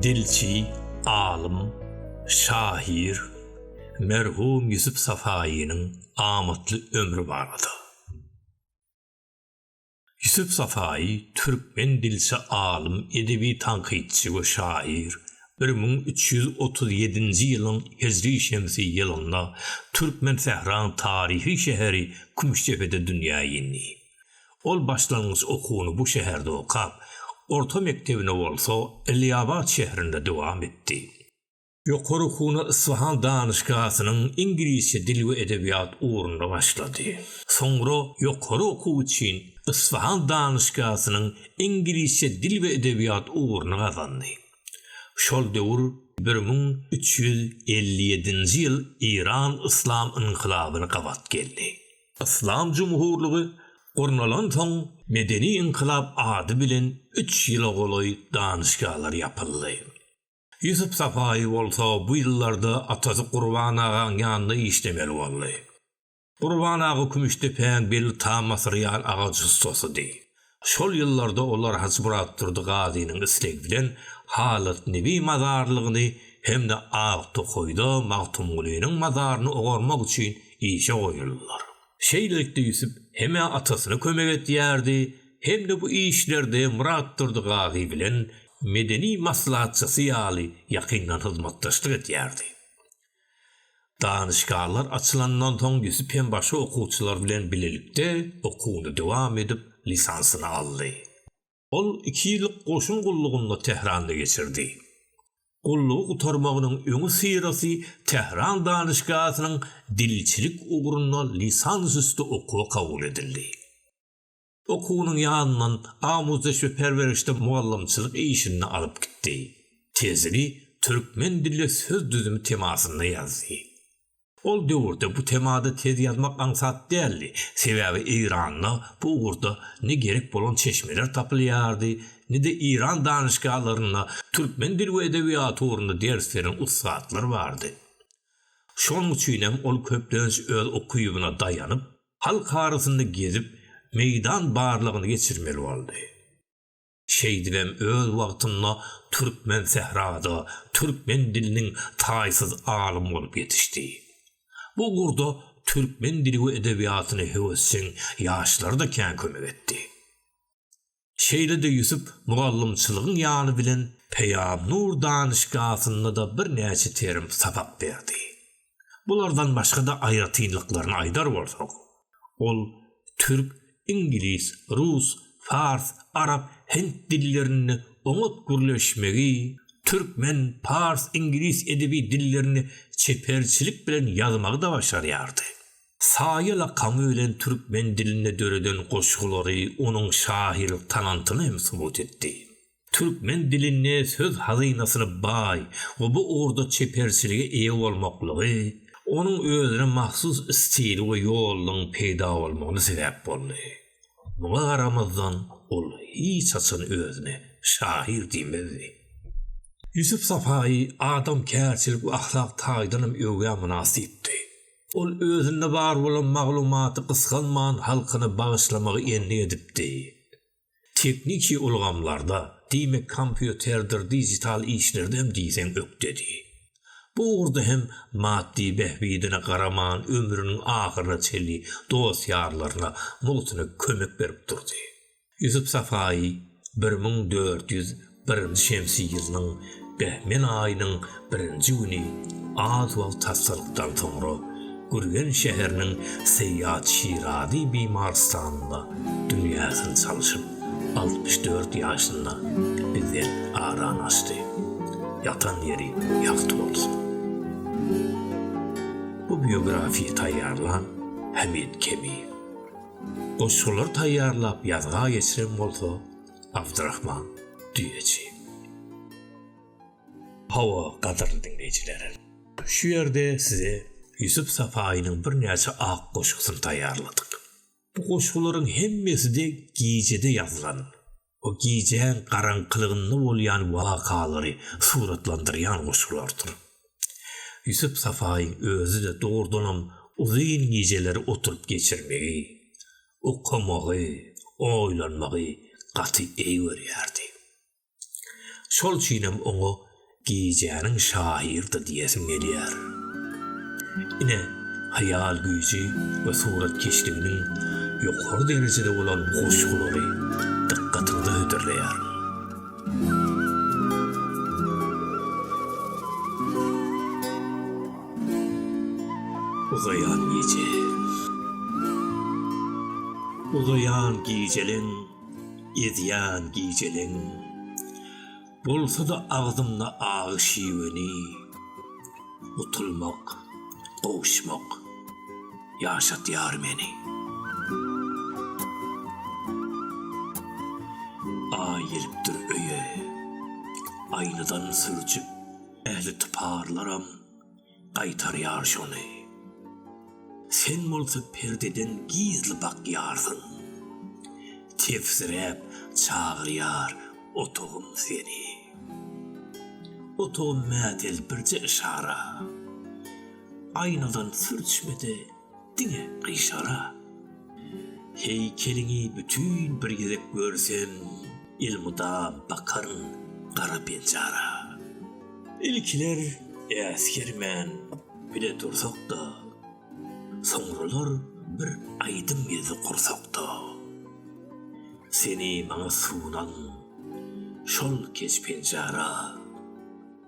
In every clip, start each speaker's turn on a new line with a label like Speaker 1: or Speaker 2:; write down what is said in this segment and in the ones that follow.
Speaker 1: Dilçi, alym, şahyr, merhum Ýusup Safaýynyň amatly ömri barada. Ýusuf Safaýy türkmen dilçi alym, edebi tankytçy we şaýyr. Bir müň üç ýüz otuz ýedinji ýylyň hijri şemsi ýylynda türkmen sähraň taryhy şäheri Kümüşdepede dünýä indi. Ol başlangyç okuwyny bu şäherde okap, orta mekdebini bolsa Iliabat şäherinde dowam etdi. Ýokary okuwyna Isfahan danyşgasynyň iňlisçe dil we edebiýat ugrunda başlady. Soňra ýokary okuw üçin Isfahan danyşgasynyň iňlisçe dil we edebiýat ugruny gazandy. Şol döwür bir müň üç ýüz elli ýedinji ýyl Eýran Yslam ynkylabyny gabat geldi. Yslam jumhurlygy gurnalansoň Medeni-ynkylap ady bilen üç ýyla golaý danyşgalar ýapyldy. Ýusup Sapaýy bolsa bu ýyllarda atasy Gurban agaň ýanynda işlemeli boldy. Gurban aga Kümüşdepäň belli tam asyrýan agaç ussasydy. Şol ýyllarda olar Hajymyratdurdy Gazynyň islegi bilen Halat Nebi mazarlygyny hem-de Aktokaýda Magtymgulynyň mazaryny ogarmak üçin işe goýuldylar. Şeýlelikde Ýusup hem-ä atasyna kömek edýärdi, hem-de bu işlerde Myratdurdy Gazy bilen medeni maslahatçysy ýaly ýakyndan hyzmatdaşlyk edýärdi. Danyşgarlar açylandan soň Ýusup hem başga okuwçylar bilen bilelikde okuwyny dowam edip, lisansyny aldy. Ol iki ýyllyk goşun gullugyny Tähranda geçirdi. Gullugy gutarmagynyň öňüsyrasy Tähran danyşgasynyň dilçilik ugrunda lisansüsti okuwa kabul edildi. Okuwynyň ýanyndan Amuzdeş we perwerişde mugallymçylyk işini alyp gitdi. Tezini türkmen dilli söz düzümi temasynda ýazdy. Ol döwürde bu temada tez ýazmak aňsat däldi, sebäbi Eýranda bu ugurda ne gerek bolan çeşmeler tapylýardy, ne-de Eýran danyşgalarynda türkmen dil we edebiýaty ugrunda ders beren ussatlar bardy. Şonuň üçin hem ol köplenç öz ukybyna daýanyp, halk arasynda gezip, meýdan barlagyny geçirmeli boldy. Şeýdibem öz wagtynda türkmen sährada türkmen diliniň taýsyz alym bolup ýetişdi. Bu ugurda türkmen dili we edebiýatyna höwesjeň ýaşlara-da kän kömek etdi. Şeýle-de Ýusup mugallymçylygyň ýany bilen Peýamnur danyşgasynda-da birnäçe terim sapak berdi. Bulardan başga-da aýratynlyklaryny aýdar bolsak, ol türk, iňlis, rus, fars, arap, hind dillerinde oňat gürleşmegi, türkmen, pars, iňlis edebi dillerinde çeperçilik bilen ýazmagy-da başarýardy. Saýa lakamy bilen türkmen dilinde döreden goşgulary onuň şahyrlyk talantyny hem subut etdi. türkmen dilinde söz hazynasyna baý we bu ugurda çeperçilige eýe bolmaklygy onuň özüne mahsus stili we ýolunyň peýda bolmagyna sebäp boldy. Muňa garamazdan, ol hiç haçan özüne şahyr diýmezdi. Ýusup Sapaýy adamkärçilik we ahlak taýdanam öwgä mynasypdy. Ol özünde bar bolan maglumaty gysganman halkyna bagyşlamagy endik edipdi. Tehniki ulgamlarda, diýmek kompýuterdir dijital işlerde hem diýseň ökdedi. Bu ugurda hem maddy bähbidine garaman ömrüniň ahyryna çenli dost-ýarlaryna mugtuna kömek berip durdy. Ýusup Safaýy bir müň dört ýüz Birinji şemsi ýylynyň behmel aýynyň birinji güni az wagt hassalykdan soňra Gürgen şäheriniň Seýýat Şirazy bimarystanynda dünýäsini salşyp, altmyş dört ýaşynda bizden aranaşdy. Ýatan ýeri ýagty bolsun. Bu biografiýa taýýarlan Hamid Kemiýew. Goşgulary taýýarlap ýazga geçiren bolsa Abdyrahman düýeçi. Hawa, gadyrly diňleýjiler! Şu ýerde size Ýusup Sapaýynyň birnäçe ak goşgusyny taýýarladyk. Bu goşgularyň hemmesi-de gijede ýazylan, o gijäň garaňkylygynda bolýan wakalary suratlandyrýan goşgulardyr. Ýusup Sapaýyň özi-de dogrudanam uzyn gijeleri oturyp geçirmegi, okamagy, oýlanmagy gaty eý görýärdi. Şol üçinem oňa gijäniň şahyry-da diýesim gelýär. Ine, haýal güýji we suratkeşliginiň ýokary derejede bolan goşgulary dykgatyňyza hödürleýärin. Uzaýan gije. Uzaýan gijeleň, ezýän gijeleň. Bolsa-da agzymda agy şiweni. Utulmak, gowuşmak ýaşatýar meni. Aý gelipdir öýe, aýnadan sürjüp. Ähli typarlaram gaýtarýar şony. Sen bolsa perdeden gizli bakýarsyň. Tefsiräp çagyrýar otagym seni. Otagym mätel birje yşara. Aýnadan sürçmede Diňe gyşara. Heýkeliňi bütin bir gezek görsem, elmydam bakaryn gara penjara. Ilkiler äsgermän bile dursak-da, soňralar bir aýdym gezdi gursakda. Seni maňa sunan şol keç penjara.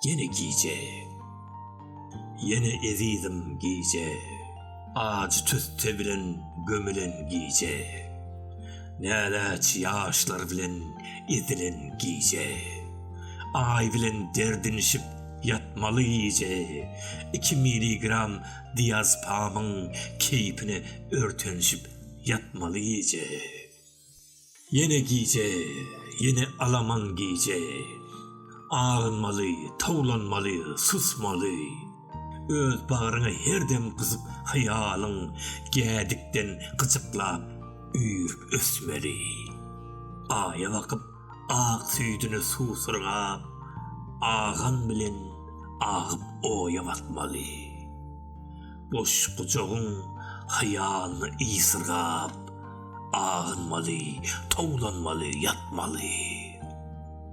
Speaker 1: Ýene gije. Ýene ezizim gije. Ajy tüsse bilen gömülen gije. Näläç ýaşlar bilen ezilen gije. Aý bilen derdinişip ýatmaly gije. Iki miligram diazpamyň keýpine örtenişip ýatmaly gije. Ýene gije, ýene alaman gije. Agynmaly, towlanmaly, susmaly. Öz bagryňa her dem gyzyp haýalyň, Gädikden gyjyklap, üýrüp ösmeli. Aýa bakyp, Ak süýdüni suwsyrgap, agan bilen agyp oýa batmaly. Boş gujagyň haýalyny ysyrgap, agynmaly, towlanmaly, ýatmaly.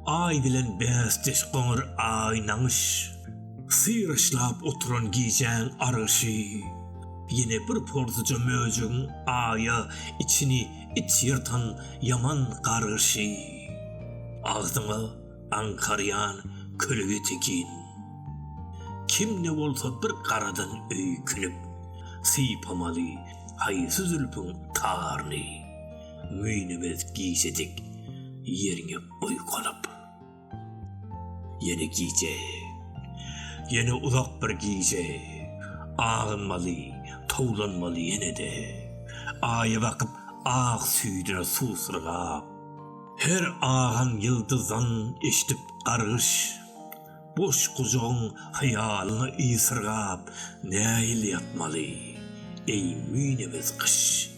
Speaker 1: Aý bilen bäsdeş goňur aý naňyş. Syryşlap oturan gijäň argyşy. Ýene bir porsuja möjegiň aýa içini It ýyrtan ýaman gargyşy. Agzyňa aňkarýan kölege tekin. Kim-de bolsa bir garadan öýkünip. Sypamaly haýsy zülpüň taryny. Müýnübez gijejik ýeriňe oýkanyp. Ýene gije. Ýene uzak bir gije. Agynmaly, towlanmaly ýene-de. Aýa bakyp, ak süýdüne suw syrgap. Her agan ýyldyzdan eşidip gargyş. Boş gujagyň hyýalyna ysyrgap. Nähili ýatmaly, eý müýnebez gyş?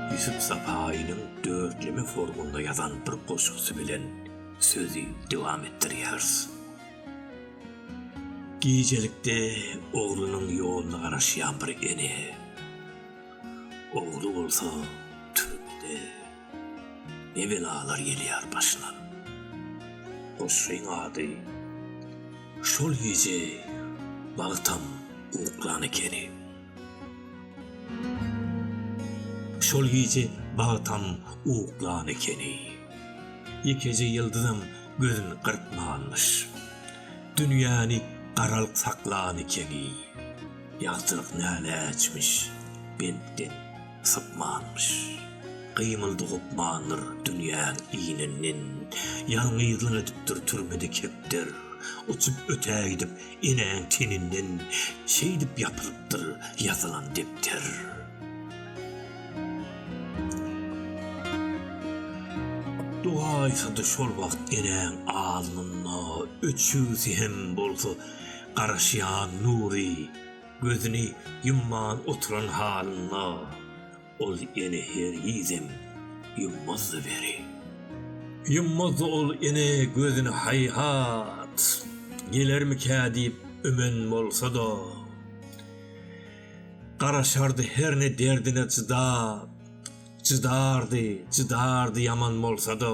Speaker 1: Ýusup Sapaýynyň dörtleme formunda ýazan bir goşgusy bilen sözi dowam etdirýäris. Gijelikde oglunyň ýoluna garaşýan bir ene. Ogly bolsa türmede. Ne belalar gelýär başyna. Goşgyň ady Şol gije bagtam uklan ekeni. Şol gije bagtam uklan ekeni. Ýekeje ýyldyzam gözüni gyrpmanmyş. Dünýäni garalyk saklan ekeni. Ýagtylyk näläçmiş, bentden. sypmanmyş. Gymyldy gopmandyr dünýäň ininden, Ýalňyzlyk edipdir türmede kepder. Uçup ötäýdip enäň teninden, Şeýdip ýapylypdyr ýazylan depder. Dogaýsa-da şol wagt enäň alnynda, Öçügsi hem bolsa garaşýan nury. Gözüni ýumman oturan halynda ol ene hergizem ýummazdy weli. Ýummazdy ol ene gözüni haýhat, gelermikä diýip ümen bolsa-da. Garaşardy herne derdine çydap, çydardy, çydardy ýaman bolsa-da.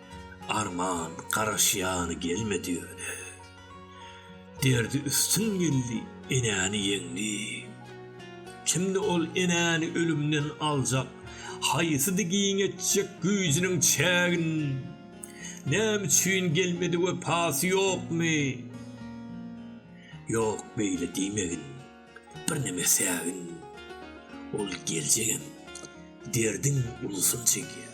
Speaker 1: Arman garaşýany gelmedi ýöne. Derdi üstün geldi, enäni ýeňdi. Kimdi ol enäni ölümden aljak, haýsydy giň etjek güýjüniň çägin? Näme üçin gelmedi wepasy ýokmy? Ýok beýle diýmegin. Birneme sägin ol geljegem derdiň ulusyny çekýär.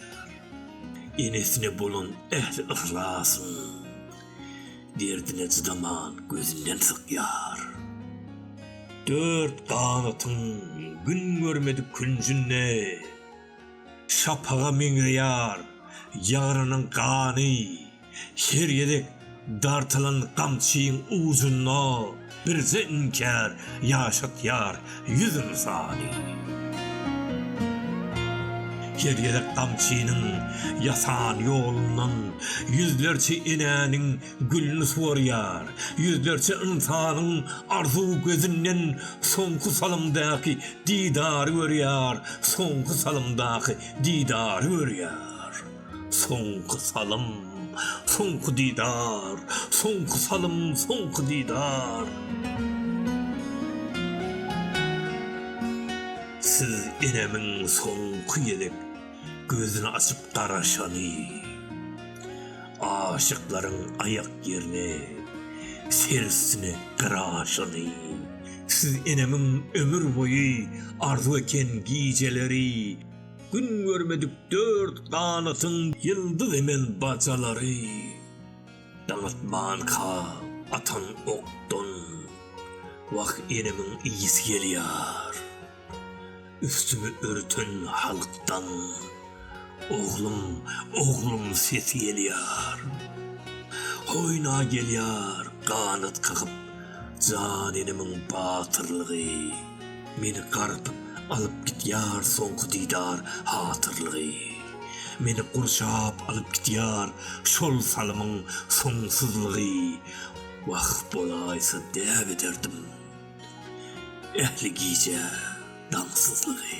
Speaker 1: Enesine bolan ähli yhlasyn derdine çydaman gözünden sykýar. Dört ganatyň gün görmedik künjünde şapaga meňzeýär ýarynyň gany. Her gezek dartylan gamçyň ujunda birje inkär ýaşatýar ýüz ynsany. Her gezek gamçynyň ýasan ýolundan ýüzlerçe enäniň gülüni suwarýar, ýüzlerçe ynsanyň arzuw gözünden soňky salymdaky didary görýär, soňky salymdaky didary görýär. Soňky salym, soňky didar, Soňky salym, soňky didar. Siz enemiň soňky gezek Gözüni açyp garaşany, Aşyklaryň aýak ýerine Ser üstüne gyraşany. Siz enemiň ömür boýy Arzuw eken gijeleri, Gün görmedik dört ganatyň ýyldyz emel bajalary Daňatmanka atan okdan Wah enemiň ysy gelýär Üstümi örten halkdan Oglum oglum sesi gelýär Hoýna gelýär ganat kakyp Jan enemiň batyrlygy. Meni gartyp alyp gitýär soňky didar hatyrlygy, Meni gurşap alyp gitýär şol salymyň soňsuzlygy, Wah bolaýsa däp ederdim ähli gije daňsyzlygy.